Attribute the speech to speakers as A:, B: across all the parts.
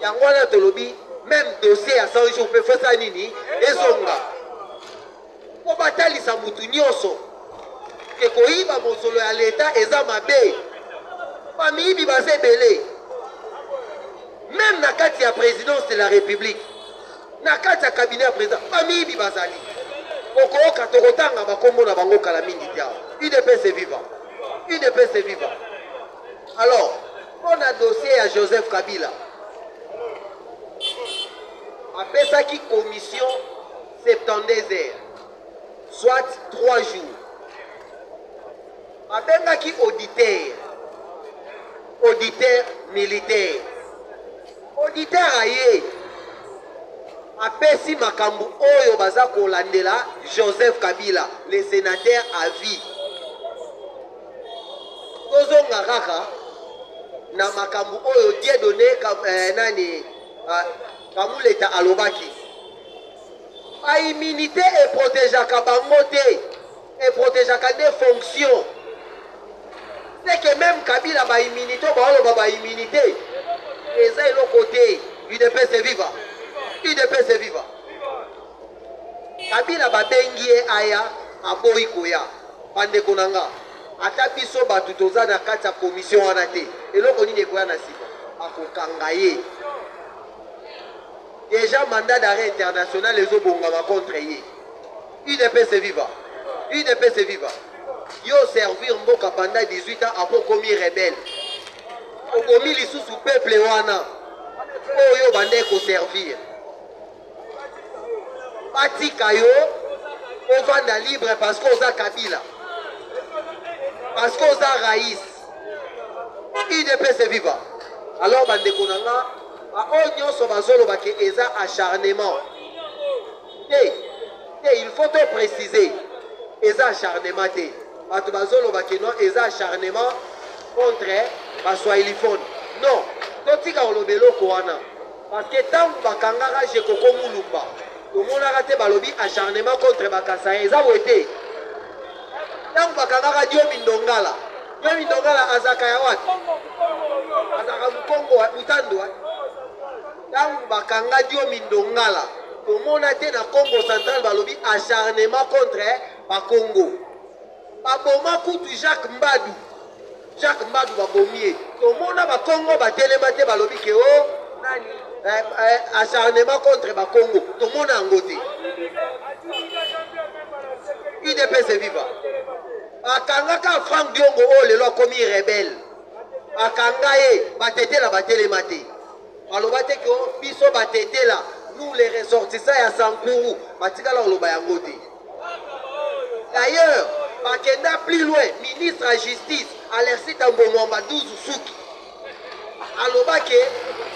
A: Yango wana tolobi
B: meme dossier ya 100 jours mpe fosa nini ezonga mpo batalisa motu nyonso ke koyiba mosolo ya leta eza mabe bamiyibi baza ebele meme na kati ya présidence de la république na kati ya cabinet ya président bamiyibi bazali okooka tokotanga bakombo na bango kala mingi te awa udps eviva udps eviva alors Mpo na dossier ya Joseph Kabila, apesaki commission 72 heures, soit 3 jours. Abengaki auditeur, auditeur militaire. Auditeur aye apesi makambo oyo baza kolandela Joseph Kabila, le senateur à vie. tozonga kaka na makambo oyo diedone eh, nani ah, kamuleta alobaki baimmunité eprotegeaka bango te eprotegeaka nde fonction seke meme kabila baimmunité oyo baoloba baimmunité eza eloko te udps viva udps viva kabila babengi ye aya aboyi koya Ba ndeko na nga, ata biso batu toza na kati ya commission wana te, eloko nini ekoya na sima? Bako kanga ye. Deja mandat d'arret international ezo bongama contre ye. UDPS viva! UDPS viva! Yo servir mboka pendant 18 ans apo komi rebelle. Okomi lisusu peuple wana oyo bande ko servir. batika yo ovanda libre parce que oza kabila parce que oza rais udps eviva alors bandeko na nga baoyo nyonso bazoloba ke eza acharnement te te il faut to préciser eza acharnement te bato bazoloba ke non eza acharnement contre baswahiliphone non totika koloba eloko wana Parce que tangu ba kangaka Jekoko Mulumba, tomonaka te balobi acharnement contre ba Kasaïens. Eza boye te. Tangu ba kangaka Diomi Ndongala, Diomi Ndongala azaka ya wapi? Azaka Mukongo wa Mutandu wa. Tangu ba kanga Diomi Ndongala, tomona te na Congo central balobi acharnement contre ba Congo. Baboma kutu Jacques Mbadu. Jacques Mbadu babomi ye. Tomona ba Kongo batelema te balobi ke o oh, nani eh, eh, acharnement contre ba Kongo. Tomona yango te. UDPS viva. Akangaka Frank Diongo oyo oh, lelo akomi rebelle. Akanga ye batetela batelema te. Baloba te ke oh, biso batetela nous les ressortissants ya Sankuru batikala koloba yango te. D'ailleurs, bakenda plus loin, ministre ya justice Alexis Tambo Mwamba 12 suki aloba ke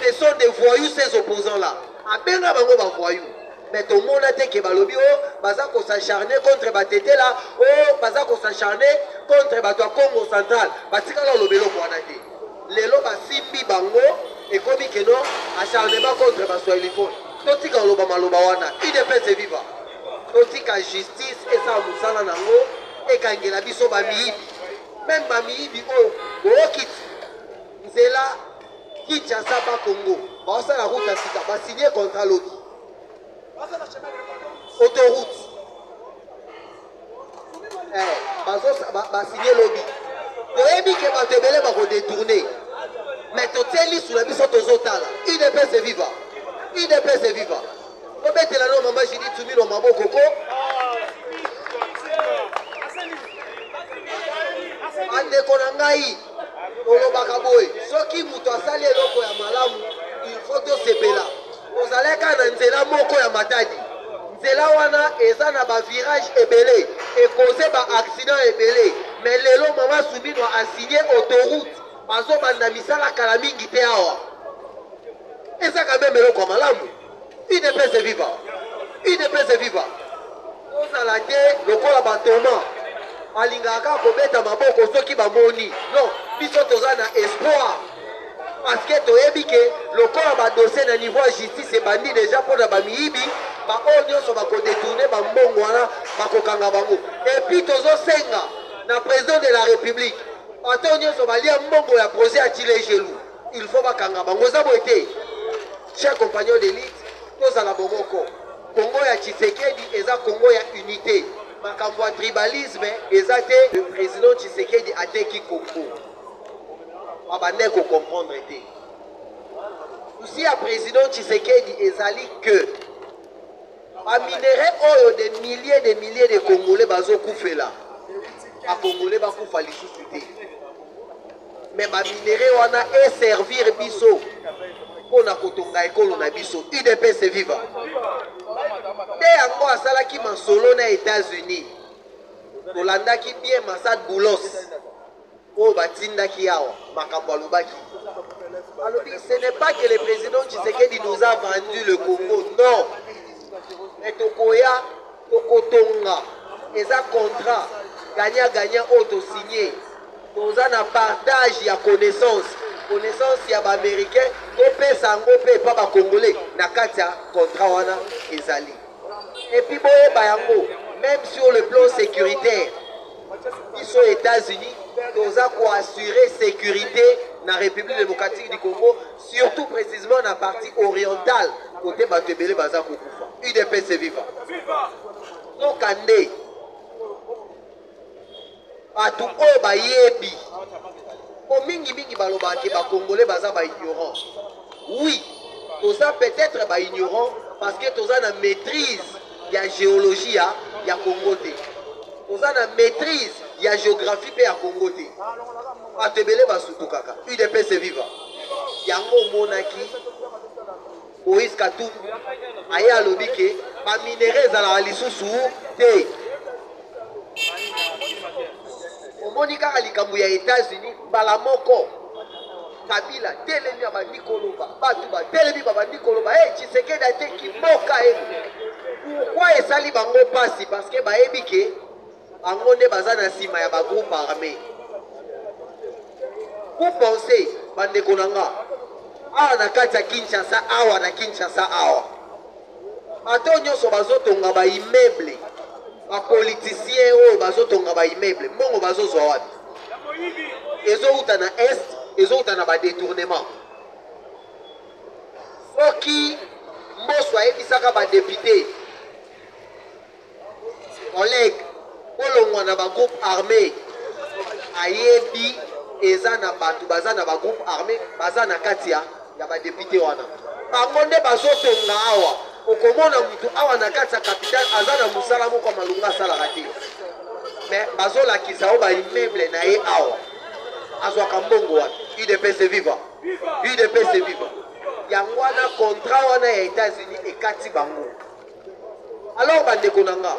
B: ce sont des voyous ces opposants là abenga bango ba voyous mais tomona te ke balobi o oh, baza kosacharne contre batetela o oh, baza kosacharne contre bato ya congo central batikala oloba eloko wana te lelo basimbi bango ekomi keno acharnement contre baswahiliphone totika oloba maloba wana idps eviva Botika justice esala mosala na yango, ekangela biso bamiyibi, meme bamiyibi oyo bookiti nzela Kinshasa ba Congo baosala route ya sika basigne contrat lobi autoroute eh, basigne lobi toyebi ke bato ebele bakodetourne mais totie lisu na biso tozotala udps viva udps viva Bobetela no mama Julie Tumilo maboko ko. Bandeko na ngai olobaka boye soki moto asali eloko ya malamu il faut tosepela ozalaka na nzela moko ya matadi nzela wana eza na bavirage ebele ekoze baaccident ebele me lelo mama suminwa asigne autoroute bazobanda misala kala mingi te awa eza kameme eloko ya malamu Udps viva! Udps viva! Ozala te lokola batoma alingaka kaka kobeta maboko soki bamoni non biso toza na espoir parceke toyebi ke lokola badosie na niveau ya justice ebandi deja mpo na bamiyibi baoyo nyonso bakodetourne bambongo wana bakokanga bango epuis tozosenga na president de la république bato nyonso balia mbongo ya projet ya chile gelou Il faut bakanga bango eza boye te cher compagnon de lutte tozala bomoko kongo ya tshisekedi eza kongo ya unité makambo ya tribalisme eza te le président tshisekedi ateki kongo babandai kocomprendre te susi ya président tshisekedi ezali que Ba minerais oyo des milliers des milliers de congolais bazo kufela ba congolais bakufa lisusu te mais ba minerais wana e servir biso mpo na kotonga ekolo na biso udps viva nde yango asalaki masolo na etats-unis tolandaki bien masad boulos oyo batindaki ye awa makambo alobaki alobi ce n'est pas que le président tshisekedi nous a vendu le congo non mais tokoya tokotonga eza contrat gagnant gagnant oyo tosigne toza na partage ya connaissance connaissance ya baaméricain topesa yango mpe epa bacongolais na kati ya contrat wana ezali epuis boyeba yango même sur le plan sécuritaire biso Etats-Unis toza ko assurer sécurité na République démocratique du Congo surtout précisément na partie orientale côté bato ebele baza kokufa UDPS viva noka nde bato oyo bayebi mpo mingimingi balobaka ke bacongolais baza baignorant oui toza peut-être baignorant parce que toza na maîtrise ya geologie ya, ya Congo te, oza na maîtrise ya geographie mpe ya Congo te. Bato ebele basutukaka. UDPS viva! Yango omonaki Moïse Katumbi aye alobi ke baminere ezalaka lisusu te. Omoni kaka likambo ya Etats-Unis mbala moko Kabila telemi abandi koloba bato batelemi babandi koloba e Tshisekedi ateki mboka e pourkui esali bango mpasi parceke bayebi ke bango nde baza na nsima ya bagroupe armé vous pense bandeko na nga awa na kati ya kinshasa awa na kinshasa awa Bato oyo nyonso bazotonga ba immeuble, ba politiciens oyo bazotonga ba immeuble, mbongo bazozwa wapi? Ezowuta na est, ezowuta na ba detournement. Soki Mboso ayebisaka ba depute Oleg bolongwa na ba groupe arme ayebi eza na bato baza na ba groupe arme baza na kati ya ya ba depute wana bango nde bazotonga awa okomona motu awa na kati ya capitale aza na mosala moko ya malonga asalaka te me bazolakisa yo baimmeuble na ye awa azwaka mbongo wapi udps viva udps viva yango wana contrat wana ya etats-unis ekati bango Alors bandeko na nga,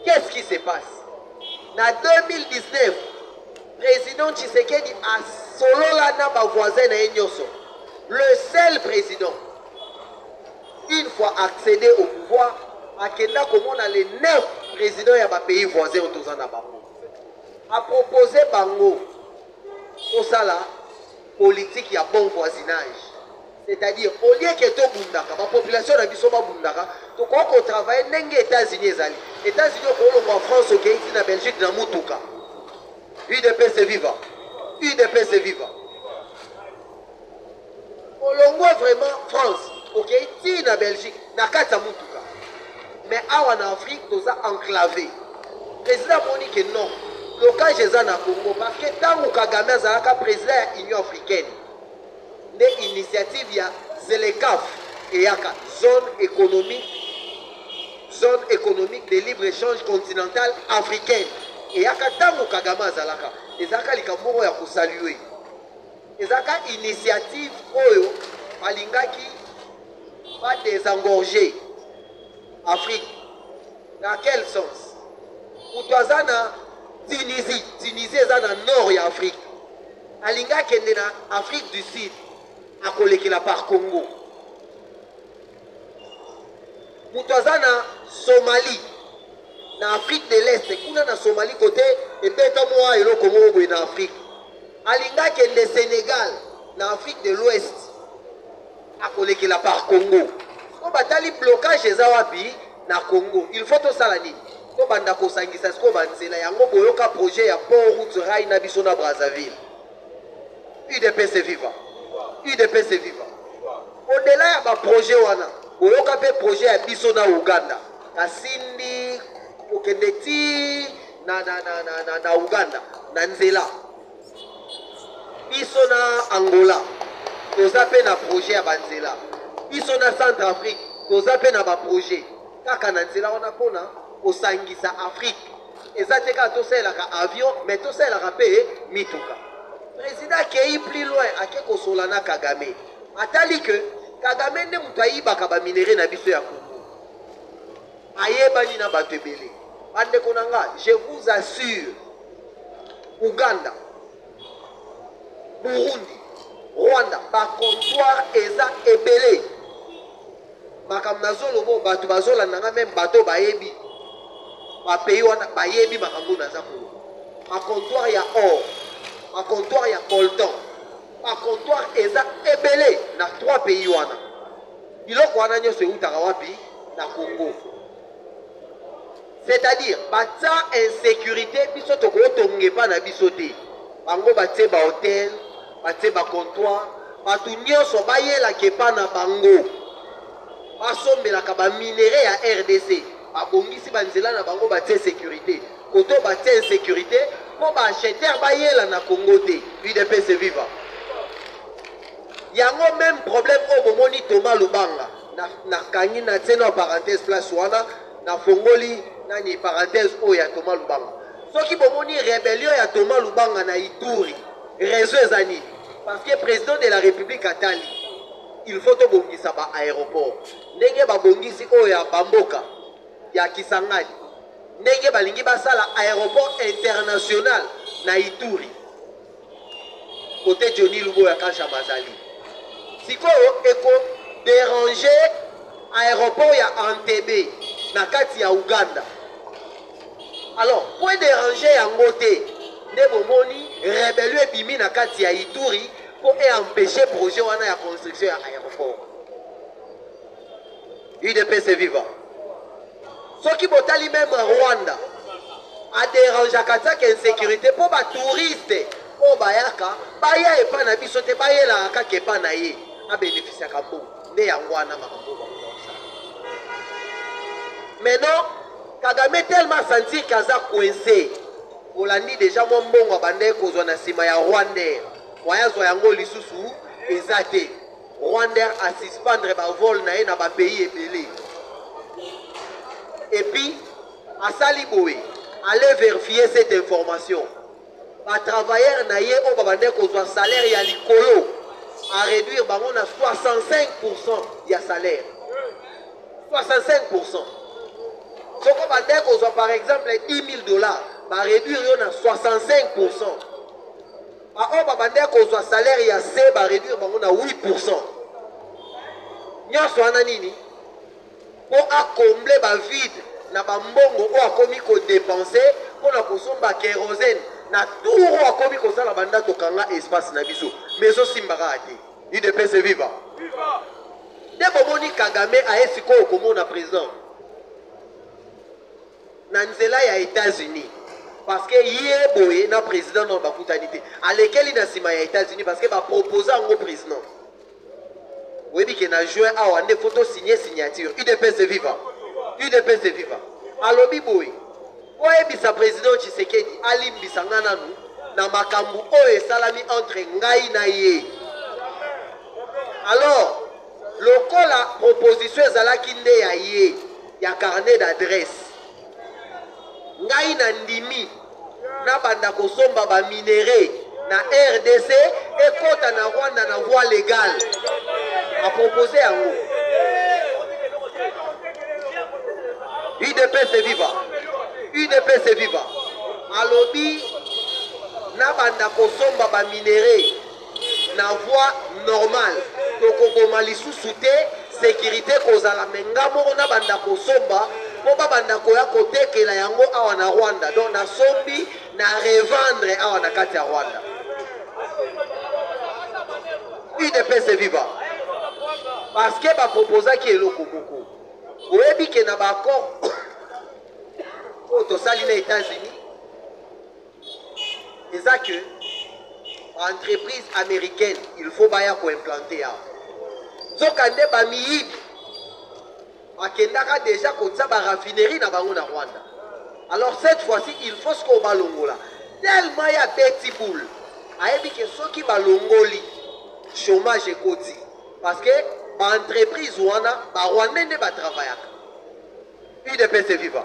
B: qu'est-ce qui se passe? Na 2019, président Tshisekedi asolola na ba voisins na ye nyonso. Le seul président, une fois accédé au pouvoir, akenda komona les neuf présidents ya ba pays voisins oyo toza na bango. Apropose bango kosala politique ya bon voisinage. C'est à dire au lieu que to bundaka ba population na biso ba bundaka to ko ko travailler ndenge Etats-Unis ezali Etats-Unis ko longo en France au Haïti na Belgique na mutuka UDP se viva UDP se viva olongwe vraiment france okei okay? tii na belgique na kati ya motuka mais awa na afrique toza enclave président amoni ke non blocage eza na congo parce que ntango kagame azalaka président ya union africaine nde initiative ya ZLECAf eyaka, Zone economique Zone economique de libre echange continentale africaine eyaka tango Kagame azalaka, ezalaka likambo moko ya ko saluer, ezalaka initiative oyo balingaki ba desengorger Afrique, dans quel sens? Moto aza na Tunisie, Tunisie eza na nord ya Afrique. alingi akende na afrique du sud akolekela par congo moto aza na somalie na afrique de l'est kuna na somalie kote ebeta mwa eloko moko boye na afrique alingi akende sénégal na afrique de l'ouest akolekela par congo po batali blocage eza wapi na congo il faut tosala nini tobanda kosangisa sikoyo banzela yango boyoka projet ya port route rai na biso na brazzaville udps viva udps viva odela ya baprojet wana boyoka mpe projet ya biso na uganda kasindi kokende ti na, na, na, na, na, na uganda na nzela biso na angola toza mpe na projet ya banzela biso na centre afrique toza mpe na baprojet kaka na nzela wana mpona kosangisa afrique eza te kaka tosalelaka avion mais tosalelaka mpe mituka président akei plus loin ake kosola na kagame atali ke kagame nde moto ayibaka baminere na biso ya kongo ayebani na bato ebele bandeko na nga je vous assure uganda burundi rwanda bacomptoire eza ebele makambo nazoloba oyo bato bazolanda nga meme bato bayebi bapays wana bayebi makambo oyo naza koloba bacomptoire ya or bacomptoire ya colton bacomptoire eza ebele na trois pays wana Biloko wana nyonso eutaka wapi? Na Congo. C'est-à-dire batia insécurité biso tokotonga epa na biso te. Bango batie ba hotel, batie ba comptoir, bato nyonso bayelaka epa na bango. Basombelaka ba minerais ya RDC, babongisi ba nzela na bango batie sécurité. Koto batie insécurité mpo ba acheteur bayela na Congo te. UDPS viva. Yango meme problème oyo bomoni Thomas Lubanga na nakangi na tseno ya parenthèse place wana na fongoli nani parenthèse oyo ya Thomas Lubanga soki bomoni rebellion ya Thomas Lubanga na Ituri raison eza nini parce que président de la République atali il faut tobongisa ba aéroport ndenge babongisi oyo ya bamboka ya Kisangani ndenge balingi basala aéroport international na Ituri Cote Johnny Luboya Kanshama azali. Sikoyo eko deranger aeroport ya Entebbe na kati ya Ouganda. Alors, po deranger yango te, nde bomoni rebellion ebimi na kati ya Ituri po e empêcher projet wana ya construction ya aeroport. udps viva soki botali meme rwanda aderangeaka tiaka insécurité mpo batouriste oyo bayaka baya epa na biso te bayelaka kaka epa na ye abénéficiaka bongo nde yango wana makambo bakosa maintenant kagame tellement sentir ke aza coince olandi deja mwa mbongo abandaki kozwa na nsima ya rwandais waya azwa yango lisusu eza te Rwander a suspendre ba vol na ye na ba pays ebele et puis asali boye aller vérifier cette information ba travailleurs na ye oyo babandaki kozwa salaire ya likolo a réduire bango na 65 ya salaire 65 soki obandaki kozwa par exemple 10 000 dollars ba réduire yo na 65 Ba oyo ba bandaki kozwa salaire ya se ba reduire bango na 8%. Nyonso wana nini? Mpo a combler ba vide na ba mbongo oyo akomi ko depenser mpo na kosomba kerosene na tour oyo akomi kosala banda tokanga espace na biso. Mais ezosimba kaka te. UDPS viva! Viva! Nde bomoni Kagame aye sikoyo komona president. na nzela ya etats unis parceke ye boye na president nao bakutani te alekeli na nsima ya etats unis parceke bapropose yango president oyebi ke na juin awa nde fo tosigne signature udps viva udps viva alobi boye mpo ayebisa president tshisekedi alimbisa ngai nanu na makambo oyo esalami entre ngai na ye alors lokola proposition ezalaki nde ya ye ya carnet d'adresse ngai na ndimi nabanda kosomba ba minerais na rdc ekota na rwanda na voie légale apropose yango udps viva udps viva alobi nabanda kosomba ba minerais na voie normale tokoboma lisusu te securite kozala me nga moko nabanda kosomba mpo babanda koya kotekela yango awa na rwanda donc nasombi na revendre awa na kati ya rwanda udps viva parce que baproposaki eloko moko oyebi ke na baaccord oyo tosali na états-unis eza que entreprise américaine il faut baya koimplante awa nzoka nde bamiyibi bakendaka deja kotia baraffinerie na bango na rwanda alors cette fois-ci il faut sikoyo balongola tellement ya beti boule ayebi ke soki balongoli chômage ekoti parce que baentreprise wana barwandais nde batravayaka udps viva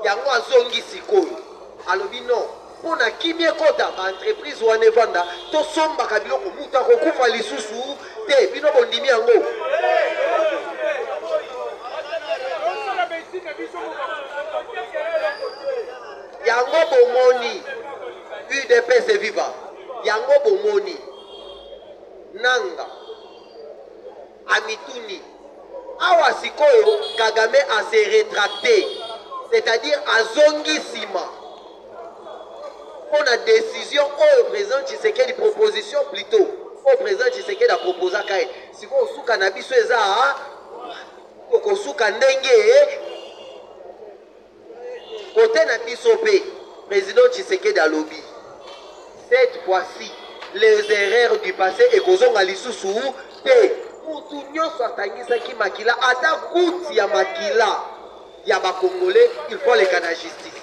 B: yango azongi sikoyo alobi non mpo na kimia ekota baentreprise wana evanda tosombaka biloko moto akokufa lisusu te bino bondimi yango yango bomoni udps eviva yango bomoni nanga amituni awa sikoyo kagame ase retracte c'est-à-dire azongi nsima mpo na décision oyo président tshisekedi proposition plutôt oyo président tshisekedi aproposaka ye sikoyo suka na biso eza tokosuka ndenge Cote na biso pe President Tshisekedi alobi cette fois-ci les erreurs du passé ekozonga lisusu te. Mutu nyonso atangisaki makila ata goutte ya makila ya ba Congolais il faut aleka na justice.